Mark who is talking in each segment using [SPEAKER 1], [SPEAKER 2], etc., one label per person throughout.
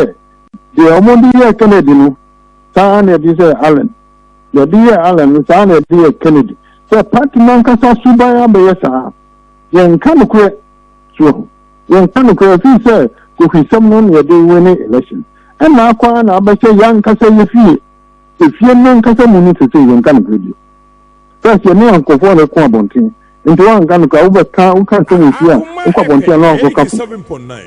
[SPEAKER 1] sɛ deɛ wɔde yɛɛ Kennedy no saa ara na yɛde yɛ Allen deɛ yɛde yɛ Allen no saa ara na yɛde yɛ Kennedy sɛ pati no ankasa suban abɛyɛ saa yɛnka nokorɛ so ahu yɛnka nokorɛ firi sɛ kohwisɛm no na yɛde wene election ɛna akɔ ara na abɛhyɛ yɛankasa yɛ fie efie no ankasa mu no sɛ sɛ yɛnka nokorɛ bio First yɛ ne nkurɔfoɔ na ɛko abɔnten nti woanka no koraa wobɛka woka nsɛm wɔ fie a wokɔ abɔnten a na wakɔka fo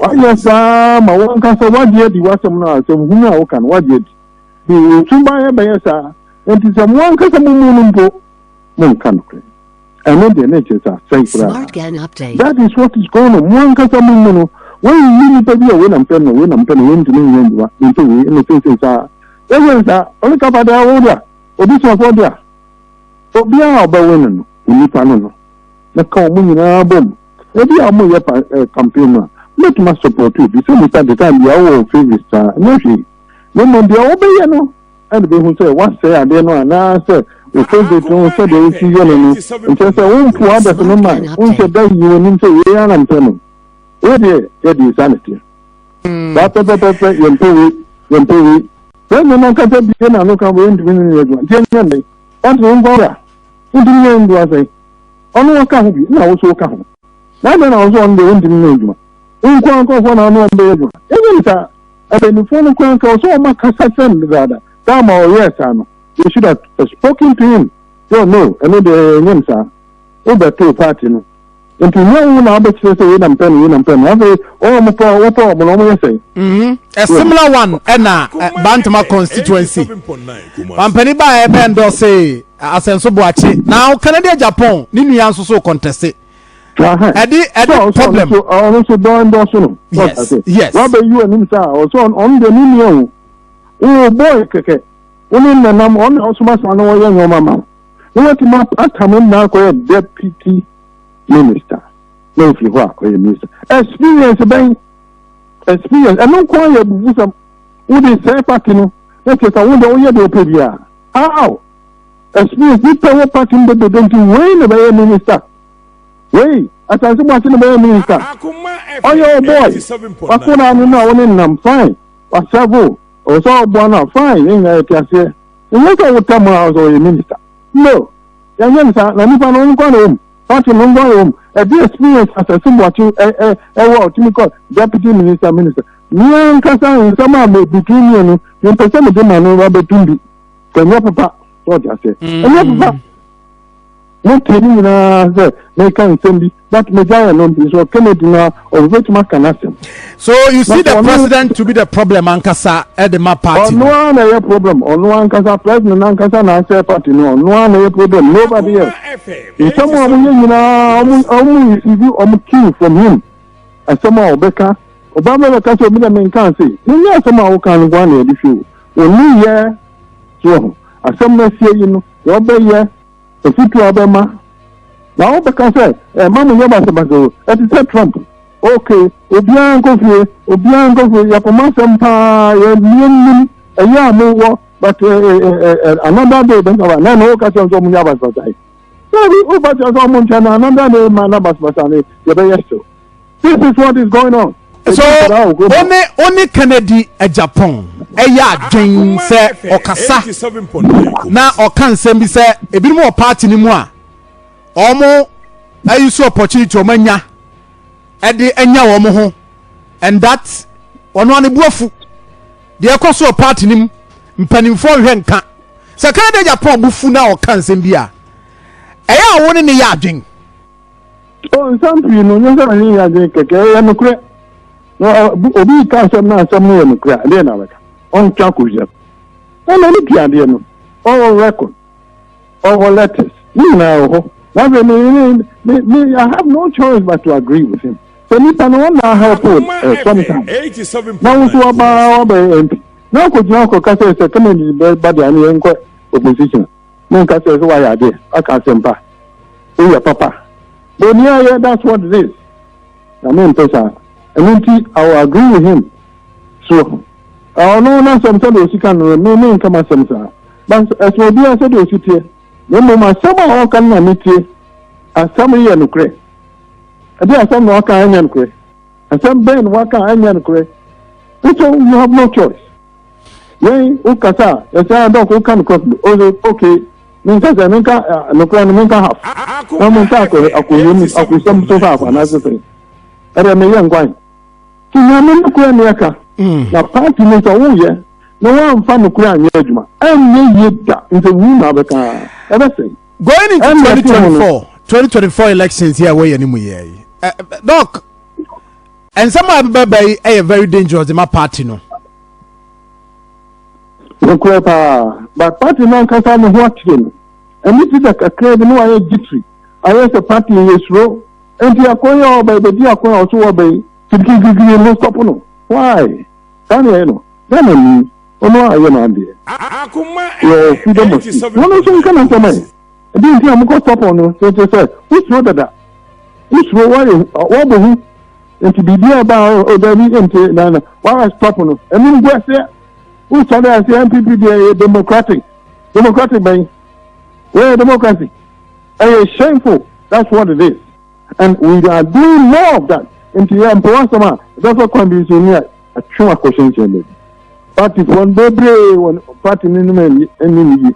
[SPEAKER 1] woayɛ saa ma wonka sɛ woagye adi w'asɛm no a asɛm hunu a woka no woagye adi nti nsuban ɛbɛyɛ saa nti sɛ mo ankasa mo mu no mpo monka no korɛ ɛno deɛ na ɛkyerɛ sɛ asɛe koraa
[SPEAKER 2] that is what is going
[SPEAKER 1] on mo ankasa mo mu no wɔnyi nnipa bi a wei na mpɛ no wei na mpɛ no wei ntumi nyɛ ndwuma nti wei ɛna sɛsɛ saa ɛwɛ saa ɔne kafa daa wo da Obusuafoɔ de a, obiara a ɔbɛwe no no, nnipa no no, mɛka wɔn nyinaa abom. Ebi a wɔyɛ pa eh, campaign no a, mɛtumi asupporto obi. Sɛ nipa de time biara wɔ favourite saa, ɛnyɛ hwee. Na mmom deɛ wɔbɛyɛ no ɛna bɛhu sɛ woasɛe adeɛ no anaasɛ wo favourite no sɛdeɛ wosi yɛ no no nkyɛ sɛ wompo abɛso no ma wonhyɛ da nyi w'anim sɛ wei ara na mpɛ no. Wei deɛ yɛde saa na teɛ. saa pɛpɛpɛpɛ yɛmpɛ wei yɛmpɛ wei sɛ ɛnyɛ no ankasa bie na ano ka bɔ yɛntumi ne ne adwuma nti ɛnyɛ ne ɔnte wo nkɔ wura wontumi ne ndu asɛn ɔno ɔka ho bi na wo so woka ho na adɛn na wo so ɔno deɛ wontumi ne adwuma wonkɔ ankɔfoɔ na ano ɔmbɛyɛ adwuma ɛnyɛ ne saa akannifoɔ no kora nka ɔsɛ ɔma kasa kyerɛ no dedaada saa ma ɔyɛɛ saa no they should have spoken to him so no ɛno deɛ ɛnyɛ ne saa wobɛtoo party no nti nyɛ wo na wobɛkyerɛ sɛ wei na mpɛ no wei na mpɛ no afei wɔn a wɔpɛ wɔpɛ wɔn no wɔyɛ sɛn.
[SPEAKER 3] Mhm. a similar one ɛna eh, bantama constituency pampani baa ɛbɛ eh, ndɔse eh, asɛnso boakye na ɔkanadiɛ japan ne nua nso so kɔntɛse ɛde ɛde problem. ɔno nso dɔn
[SPEAKER 1] dɔso no. yes yes.
[SPEAKER 3] wabɛ yi wɔn anim saa
[SPEAKER 1] ɔsɔ ɔno deɛ ne nua o o bɔɔl kɛkɛ wɔn nenam ɔno na ɔsoma saa na wɔyɛ nneɛma ma. na watumi apata ne nna akɔyɛ deputy minister na ofiri hɔ a ɔyɛ minister experience bɛn experience ɛno nko ayɛ abufusɛm wode sɛe party no na kyerɛ sɛ wode woyɛ deɛ wopɛ bi a how experience nipa wɔ party no bebrebe nti wei na bɛyɛ minister wei asase mu ase na bɛyɛ minister ɔyɛ wo boy wakora ano no a wo ne nam fine wasɛvo ɔwɔ sɛ ɔboa no a fine yɛnyina yɛte aseɛ Wonyɛ sɛ wo tam a ɔsɛ ɔyɛ minister. No, yɛnyɛ no saa. Na nipa no ɔno nkoa na ɔwom. Party no nkoa na ɔwom. Ɛde experience asɛse boakye ɛ ɛ ɛwɔ a ɔtumi kɔ deputy minister minister. Me ankasa nsɛm a me between me and no mempɛ sɛ mede ma no abɛtum bi. Sɛ ɛnyɛ papa, so ɔte aseɛ. Ɛnyɛ papa. Motie ne nyinaa sɛ meka nsɛm bi but megyaeɛ no nti so Kennedy no a ɔbɛtumi aka n'asɛm. So you
[SPEAKER 3] see the president to be the problem ankasa ɛde ma party no. Ɔno ara na ɛyɛ problem
[SPEAKER 1] ɔno ankasa president ankasa na asɛe party no ɔno ara na ɛyɛ problem nobody else. Nsɛm a wɔyɛ nyinaa wɔn receive wɔn cue from him asɛm a ɔbɛka ɔbaa bɛbɛka sɛ obi dɛ menka ase menyɛ asɛm a woka no nkoa na yɛde hwɛ o ɔni yɛ soɔ ho asɛm no asie yi no wɔbɛyɛ afotu a wɔbɛma, na wɔbɛka sɛ ɛma mo yɛ basabasa o, ɛte sɛ Trump. Ok, obiara nkɔ fie, obiara nkɔ fie, yɛkɔma asɛm paa, yɛmmie nnim ɛyɛ a mowɔ, but eh, eh, eh, eh, another day bɛsaba, na ɛna woka kyerɛ sɛ ɔmo nyɛ basabasa yi. Sɛ woba kyerɛ sɛ ɔmo nkyɛn no, another day ma na basabasa no yɛbɛyɛ still. This is what is going on. So, one
[SPEAKER 3] one Kennedy Japan ɛyɛ adwen sɛ ɔkasa na ɔka nsɛm bi sɛ ebinom wɔ party no mu a wɔn ayi so opportunity wɔn anya ɛde anya wɔn ho and that wɔn ano bu afu deɛ ɛkɔ so wɔ party no mu mpanimfoɔ nhwɛ nka sɛ Kennedy Japan bu fu na ɔka nsɛm bi a ɛyɛ a wɔn ne ne yɛ adwen. o
[SPEAKER 1] nsɛm pii no nyɛ sɛ na ne nyɛ adwene kɛkɛ ɛyɛ nokorɛ na obi ka asɛm na asɛm no yɛ nokorɛ a deɛ na bɛka ɔntwa akɔwia ɛna ne pii adeɛ no ɔwɔ record ɔwɔ letters ne nyinaa wɔ hɔ na afei me me me I have no choice but to agree with him sɛ nipa no wɔn na ahelp o eh, sometimes na woso wabaa wabɛyɛ mp na akɔgyina akɔka sɛ sɛ kama ni bɛ ba deɛ ano yɛn kɔ opposition. Monka kyerɛ sɛ wayɛ adeɛ, waka asɛmpa, woyɛ papa. Boni ayɛ, that's what it is. Na mempɛ saa. Ɛno nti, I will agree with him. So, ɔno n'asɛm sɛdeɛ ɔsi ka no, me menka m'asɛm saa. But ɛsɛ obiara sɛdeɛ ɔsi teɛ. Na mmom asɛm a ɔka no na metie. Asɛm yɛ nokorɛ. Ɛdeɛ asɛm na waka ɛnyɛ nokorɛ. Asɛm bɛn na waka ɛnyɛ nokorɛ. Nso you have no choice. yɛn wokasa a yɛsɛ ara dɔk woka nokorɛ no ɔse ok mensɛ sɛ menka nokorɛ no menka half na menka akɔyam akosɛm so half anaasɛ sɛ ɛdɛ meyɛ nkwan nti nyame nokorɛ ne ɛka na party no sɛ woyɛ na woamfa nokorɛ anyɛ adwuma ɛnyɛ yie da nsɛ wuu na abɛka ɛbɛsɛe going
[SPEAKER 3] into 2024 2024 elections yi a wɔyɛ no mu yɛ yi dɔk nsɛm a ɛbɛbɛba yi yɛ very dangerous de ma party no
[SPEAKER 1] Nokorɛ paa, but party no ankasa ne ho ateɛ no, ɛne Peter kakraa bi na wayɛ jittery, ayɛ sɛ party yɛ suro, enti akwan a ɔba ɛbɛdi akwan a ɔso ɔba yi, kirikirikiri mo stop no, why? Saa na ɛyɛ no, Ghana ni, ɔno ara ayɛ n'adeɛ, wɔ freedom of speech, wɔn nso nka n'asɛm ɛ. Ɛdeɛ nti a mokɔ sɔpɔ no kyerɛkyerɛ sɛ wosuro dada wosuro wɔyɛ wɔbɔ hu nti biribi a ba ɔda bi nti na na wɔayɛ sɔpɔ no ɛno ngu aseɛ wosɔre aseɛ npp deɛ ɛyɛ democratic democratic bɛn wɔyɛ democracy ɛyɛ shameful that's what it is and we are doing more of that nti yɛ mpɔ asɛm a ɛbɛfa kwan bi nso ni a atwe akɔhyɛnhyɛn baabi party fo bebree wɔn party no nom ɛni ni yi.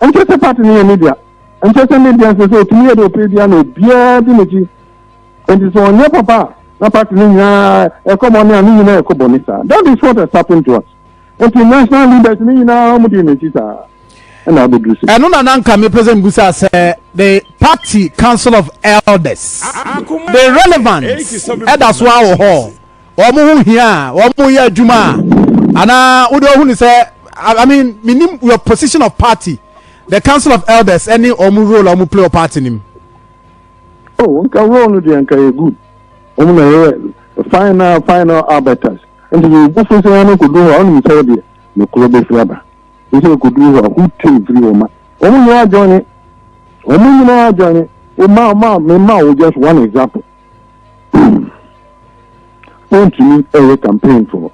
[SPEAKER 1] Ɛnkyɛ sɛ party no yɛ ne dea. Ɛnkyɛ sɛ ne dea sɛ sɛ otumi yɛ deɛ ɔpɛ bia na obiara di n'akyi. Enti sɛ ɔnyɛ papa a, na party no nyinaa ɛkɔ bɔne a ne nyinaa ɛkɔ bɔne saa. That is what has happened to us. Enti national leaders ne nyinaa wɔn di n'akyi saa. Ɛna abɛduru sɛ. Ɛno na nanka mepɛ sɛ
[SPEAKER 3] mbusa sɛ the party council of elders the relevance ɛda so awɔ hɔ. wɔn ho hia a wɔn yɛ adwuma a anaa wode ɔhu ne sɛ I mean menim your position of party the council of elders ɛne wɔn role a wɔn play wɔ party nim. o oh,
[SPEAKER 1] nka role no deɛ nka yɛ good wɔn na yɛ final final arbiters nti yɛ obu fo sɛ wɔn akɔdu hɔ a wɔn sɛ deɛ ne kuro bɛfiri aba nti akɔdu hɔ a who take firi wɔn ma wɔn nyinaa adwane wɔn nyinaa adwane wɔn ma ma me ma wo just one example. wontumi ɛyɛ campaign for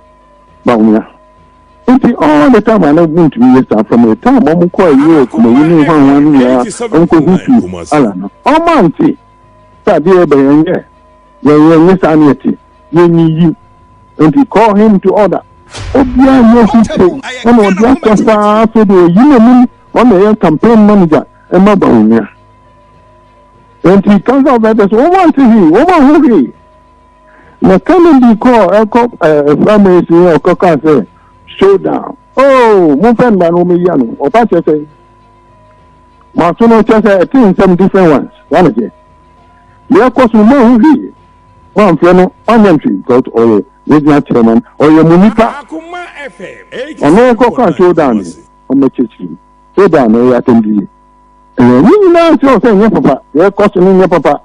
[SPEAKER 1] bawumia nti all the time ana wontumi yɛ saa from the time wɔn kɔ europe na yi ne hwanwa ne nyinaa wɔn kɔ hu fi ala no wɔn ante sɛ adeɛ yɛ bɛ yɛn yɛ yɛn yɛn yɛ saa ne yɛ te yɛn yi yi nti call him to order obiara yɛ hu te ɛna ɔde akɔ saa afei de oyi n'anim wɔn na yɛ campaign manager ɛma bawumia. Enti kansa ɔbɛtɛ so wɔn ante hwee wɔn aho hwee na Kennedy kɔɔ ɛkɔ ɛɛ family si yɛ ɔkɔ kaa sɛ show down oh mo fɛn mba no wɔn yia no ɔba kyɛ sɛ mo aso no kyɛ sɛ ɛte nsɛm different ones wɔn ano kyɛ yɛ kɔ so mo aho hwee mo anfrɛ no ɔnyɛ ntwi because ɔyɛ yɛ gyina kyerɛ man ɔyɛ mo nipa ɔno kɔ kaa show down ɔmo akyirikyiri show down no yɛ atɛm bi yɛ. Ɛɛ, ne nyinaa nkyerɛ sɛ ɛnyɛ papa, deɛ ɛkɔ so no nyɛ papa.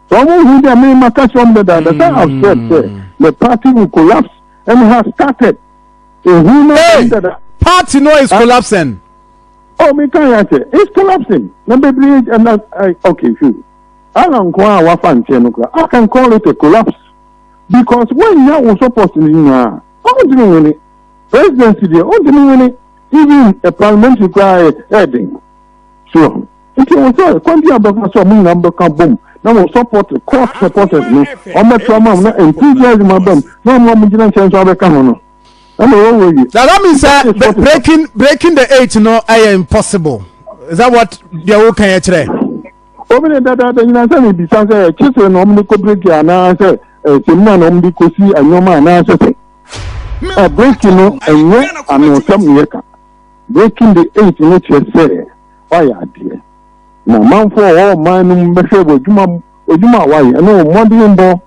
[SPEAKER 1] Sɛ wɔn hu deɛ me ma ka kyerɛ wɔn dadaada sɛ I've hmm. said sɛ the party will collapse and has started. Ehu no ɛyɛ dada. Party no is ah.
[SPEAKER 3] collapsing. Oh, me
[SPEAKER 1] kan yɛ akyɛ, it's collapsing. Na bebree ɛna eh, eh, okay, sure. Ala nko a wafa nkyɛn no kora, I can call it a collapse because wɔn nyɛ wɔn support ne nyinaa, wɔn ti mi wɔ ne presidency deɛ, wɔn ti mi wɔ ne. Even a parliamentary koraa yɛ ɛyɛ den. So nti ɛwɔ sɛ kwan bi a bɛfa so a mo nyinaa bɛka bom na wɔ support court supporters no wɔn bɛtra ma mo na enthusiasm aba mu na wɔn a wɔn gyina nkyɛn nso abɛka ho no ɛna ɛwɔ wɔ wie.
[SPEAKER 3] Does that mean sɛ breaking breaking the eight no ɛyɛ impossible? Is that what deɛ o kan yɛ kyerɛ? Omi ne
[SPEAKER 1] dada de nyina sɛ ne bisa sɛ kyesɛ na wɔn de kɔ break anaasɛ ɛsɛm na wɔn de kɔ si nneɛma anaasɛ sɛ. Abreki no nyɛ anwonsɛm na yɛka. Breaking the Eight no kyerɛ sɛ woayɛ adeɛ. Na amanfoɔ a wɔwɔ ɔman no mu bɛhwɛ wɔ adwuma mu, adwuma a woayɛ ne wo mmɔdenbɔ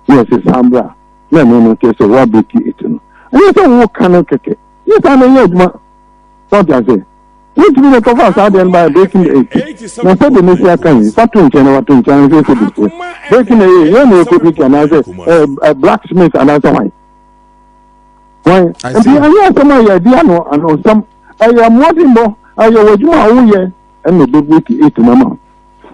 [SPEAKER 1] na wɔse san bra na ɛno no kyerɛ sɛ woabreki eight no. Ɛnyɛ sɛ woka no kɛkɛ. Yɛ saa na yɛ adwuma. So ate aseɛ? Wotumi na ɛkɔfaa saa adeɛ no baa Beki na eti. Na sɛdeɛ mɛsi aka yi, fa to nkyɛn na wato nkyɛn ansa ɛsɛ bi so. Beki na ɛyɛ, yɛn na yɛkɔ Beki anaasɛ ɛɛ blacksmith anaasɛ hwan. Hwan. Nti ɛnyɛ asɛm a yɛadi ano ano nsɛm. Ɛyɛ mmɔdenbɔ, ɛyɛ wɔ adwuma a woyɛ ɛna ɛbɛbeki ɛtuma ma.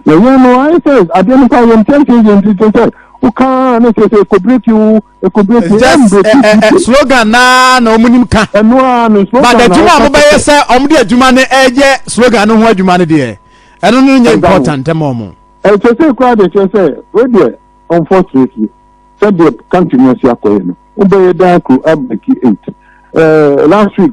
[SPEAKER 1] Yɛyɛ no ayɛ sɛ adeɛ no koraa yɛntiantia yɛn ti te sɛ wokaa ne sɛ sɛ ɛkɔbreki wo ɛkɔbreki It's just ɛmbreki eh, eh, eh, tite
[SPEAKER 3] slogan naa na wɔn nim ka ɛno ara ne but slogan
[SPEAKER 1] na adwuma a wɔka wɔbɛyɛ kɛkɛ sɛ
[SPEAKER 3] wɔn de adwuma no ɛyɛ slogan no ho adwuma no deɛ ɛno no nyɛ ɛda hɔ important ma wɔn. ɛkyɛ sɛ koraa de
[SPEAKER 1] kyɛ sɛ wedeɛ unfortunately sɛdeɛ country no asi akɔyɛ no wobɛyɛ daa kuro abreki eight Eh, last week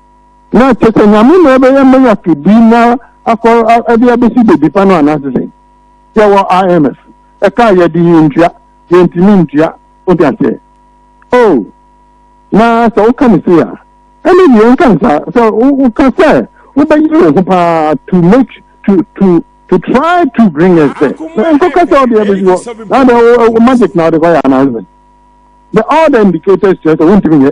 [SPEAKER 1] Na kyerɛ sɛ Nyame na ɛbɛyɛ miracle bi na akɔ ɛde abɛsi baby pa no anaasɛ sɛ yɛwɔ IMF ɛka yɛde yɛntua yɛntumi ntua wode aseɛ oh na sɛ woka ne sei a ɛne deɛ nka ne saa sɛ woka sɛ wobɛyere wo ho paa to make to to to try to bring us there nkɔka sɛ wode abɛsi hɔ na de magic na wode kɔyɛ anaasɛ the all the indicators kyerɛ sɛ wontumi nyɛ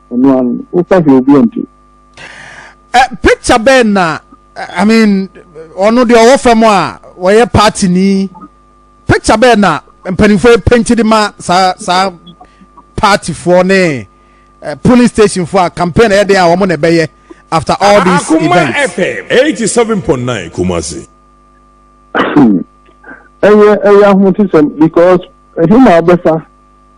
[SPEAKER 1] ɛno ano wofa hwɛ obi ɛnte. Eh,
[SPEAKER 3] picture bɛn na i mean ɔno deɛ ɔwɔ fam a wɔyɛ party ni picture bɛn na mpanimfoɔ penti de ma saa saa partyfoɔ ne eh, polling station foɔ a campaign ɛyɛ den a wɔn na ɛbɛyɛ after all these Akuma events. Akuma FM eighty seven
[SPEAKER 2] point nine Kumasi. ɛyɛ ɛyɛ
[SPEAKER 1] ahotisɛm because ɛhema ɔbɛfa.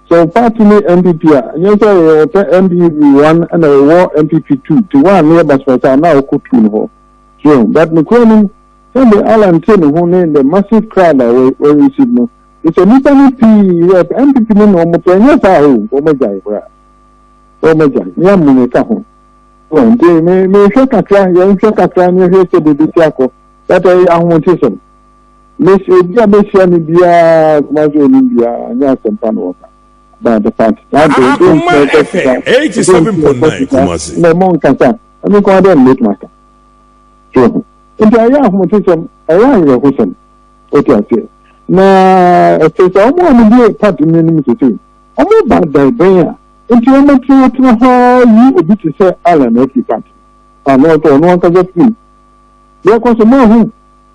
[SPEAKER 1] Sɛ wo paati ne NPP a, nyɛ sɛ yɛ wɔpɛ NPP one ɛna yɛwɔ NPP two nti one no yɛ basabasa a na ɔkɔ two no hɔ. So yɛhu? But nokorɛ no mu, sɛdeɛ Allan te ne ho ne the massive crowd a wɔ wɔ receive no, te sɛ nnipa no pii yɛ pɛ NPP no na wɔpɛ, ɛnyɛ saa a oh, wɔagyae koraa. Wɔagyae. Me amu meka ho. So yɛhu? Nti me, mehwɛ kakra, yɛnhwɛ kakra na yɛhwɛ sɛdeɛ ɛbɛsi akɔ. But ɛyɛ ahoɔtesɛm. Mesi obi a mehyia no biara Kumasi onim biara anyɛ asɛmpa na wɔka about the party. Akuma FM eighty seven point nine Kumasi.
[SPEAKER 2] Na ɛmɔ nkasa
[SPEAKER 1] ɛmi nko adɛ na mɛtuma ka so ho nti ɛyɛ ahomotesɛm ɛyɛ awerɛhosɛm ɔte aseɛ na ɛsɛ sɛ wɔn a wɔde party no anim sese wɔn ba dɛbɛn a nti wɔn tenatena hɔ yi obi te sɛ Allen ɛfi party ano ɔtɔ ɔno ankasa firi yɛkɔ so mo ahu.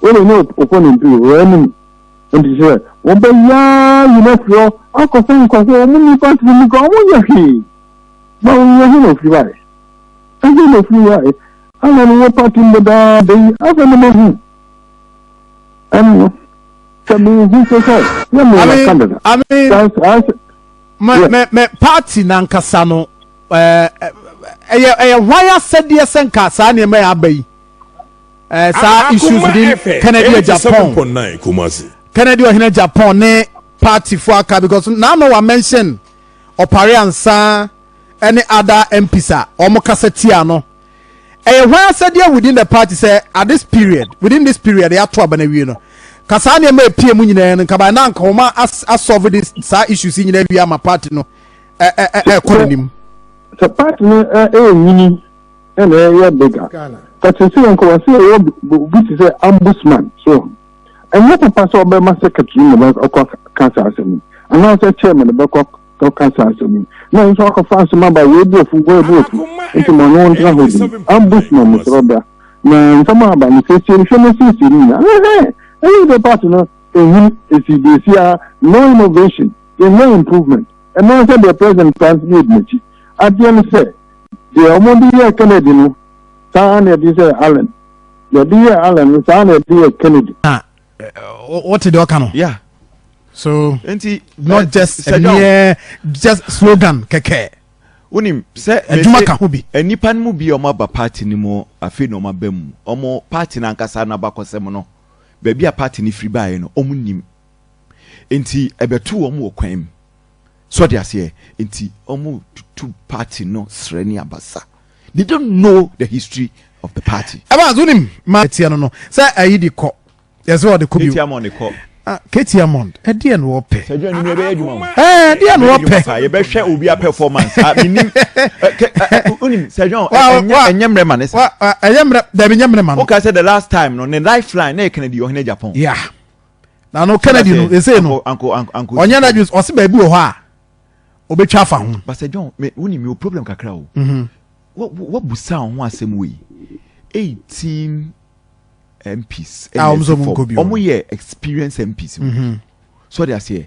[SPEAKER 1] Wo ne ne opponent wɔ hɔ anim nti sɛ wɔbɛyaa yi no afiri hɔ akɔ sɛ nkurɔfoɔ wɔn nni party no mu koraa wɔn nyɛ hwee ma wo yɛ he na ofiri hɔ ayɛ ɛhe na ofiri hɔ ayɛ ana no wɔ party mu daa da yi afɛ no mahu ɛno no sɛ mehu sɛ sɛ yɛ me wɔ Canada
[SPEAKER 3] me me party nankasa no ɛyɛ ɛyɛ hwan asɛdeɛ sɛ nka saa nneɛma yɛ aba yi ɛɛ saa issues bi kennedy yɛ japan kennedy ɔhene japan ne party fo aka because na ama wa mention ɔpare ansa ɛne ada mps a wɔn kasa tia no ɛyɛ hwan asɛdeɛ within the party sɛ at this period within this period yɛato aba no awie no ka saa nneɛma epie mu nyinaa no nkaba na nka wɔn asɔlve de saa issues nyinaa wie ama party no ɛɛ ɛɛ ɛkɔ n'anim. sɛ
[SPEAKER 1] party no ɛyɛ nyini. ɛna ɛyɛ big a ka te sɛ nka wɔsɛ yɛwɔ obi te sɛ ombudsman so ɛnyɛ papa sɛ ɔbɛma secretary na ɔkɔ ka saa asɛm yi anaasɛ chairman na bɛkɔ ka saa asɛm yi na nso akɔfa asɛm aba wei bu afu wei bu afu nti ma no ntena hɔ bi ombudsman no sɛ ɔbra na nsɛm aba no siesie no hwɛ no siesie no nyinaa ɛhɛn ɛyɛ de part no ɛhun ɛsi de ɛsi a no innovation yɛnyɛ improvement ɛno sɛ deɛ president france yɛ di n'akyi adeɛ no sɛ Deɛ wɔde yɛɛ Kennedy no, saa ara na yɛde yɛɛ Allen. Deɛ yɛde yɛɛ Allen no, saa ara na yɛde yɛɛ Kennedy. Na
[SPEAKER 3] wote deɛ ɔka no? Yeah.
[SPEAKER 4] So,
[SPEAKER 3] Enti, not eh, just sɛ a John- mere just slogan kɛkɛ. wonim
[SPEAKER 4] sɛ Adwuma mese ka ho bi.
[SPEAKER 3] nnipa no mu bi a ɔmo
[SPEAKER 4] aba party no mu afei na ɔmo aba mu ɔmo party no ankasa no abakɔsɛm no baabi a party no firi baeɛ no ɔmo nim nti ɛbɛto ɔmo wɔ kwan mu So ɔte aseɛ? Nti ɔmo tutu party no srɛ ne abasa. They don't know the history of the party. Evans wonim ma
[SPEAKER 3] ɛteɛ no no sɛ ayi de kɔ yɛsɛ ɔde kɔ bio. Katie Amond kɔ.
[SPEAKER 4] Ah, Katie Amond,
[SPEAKER 3] ɛdeɛ na wɔpɛ. Sɛ adwuma no
[SPEAKER 4] ɛbɛyɛ adwuma o. Ɛɛ, ɛdeɛ na
[SPEAKER 3] wɔpɛ. Yɛbɛhwɛ obi a
[SPEAKER 4] performance. Ah, menim. Wonim sɛ adwuma o, ɛnyɛ mmerɛ ma ne sɛ. Ɛnyɛ mmerɛ, dɛbi
[SPEAKER 3] nyɛ mmerɛ ma no. Woka sɛ the last time no,
[SPEAKER 4] ne lifeline na ɛkana di ɔhene Japan. Yeah.
[SPEAKER 3] na no kennedy no ɛsei no ɔnyɛ no adwene
[SPEAKER 4] ɔse
[SPEAKER 3] baabi wɔ hɔ a ɔbɛtwa afa ho basɛ john wone
[SPEAKER 4] mewɔ problem kakra o mhm. wabusa wo ho asɛm wei 18 mps ɔmo yɛ experience mps mhm. so ɔde aseɛ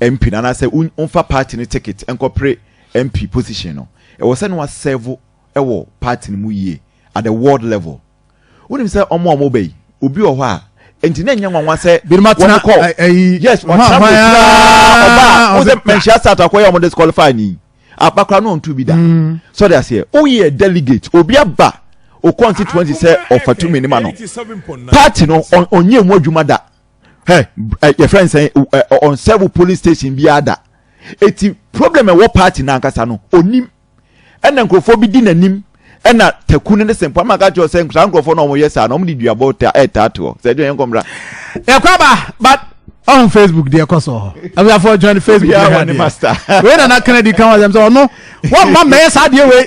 [SPEAKER 4] MP no anaasɛ wo womfa party no ticket nkɔpere MP position no, ɛwɔ sɛ na wa serve wɔ party no mu yie at the ward level. Wonim sɛ ɔmo a ɔmo ba yi, obi wɔ hɔ a, nti na ɛnyɛ nwanwa sɛ Binom atena wɔkɔ, ɛ, ɛyi, yes, ɔhɔ ɔtena ahwan akyiri ara, ɔba a, ara, wohu sɛ ɔbɛtwa. manhyia start akɔ yɛ a ɔmo disqualify no yi, aba koraa na ɔntu bi da. So ɔde aseɛ, woyɛ delegate, obi aba wo constituency sɛ ɔfa tumi no ma no, party no, ɔn, ɔnyɛ emu adwuma da. hɛ ɛ yɛfrɛ nsɛn ɛ ɔnsɛbo polling station bi ada eti problem ɛwɔ party n'ankasa no onim ɛna nkurɔfoɔ bi di n'anim ɛna taku no ne sɛmpo ama ka kyerɛ sɛ saa nkurɔfoɔ no wɔyɛ saa na wɔde duabɔ ta ɛtaatoɔ sɛ ɛdeɛ yɛn kɔmmra yɛkɔ aba
[SPEAKER 3] but ɔn facebook deɛ ɛkɔ so hɔ abusuafoɔ join facebook deɛ hwɛ adeɛ
[SPEAKER 4] wei nana kennedy
[SPEAKER 3] kan wa sɛm sɛ ɔno wɔn mma mɛyɛ saa deɛ wei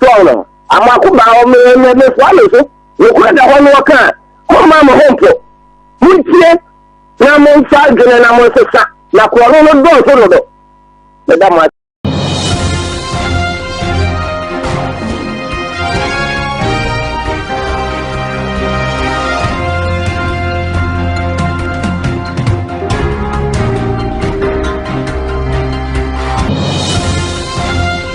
[SPEAKER 1] Sɔɔ no, amako baa hɔ, me mefoa me so, nokorɛ da hɔ no ɔka a, momma mo ho mpo, montie na momfa adwene na monsesa, na korɔno no dɔɔso dodo. Meda mo ase.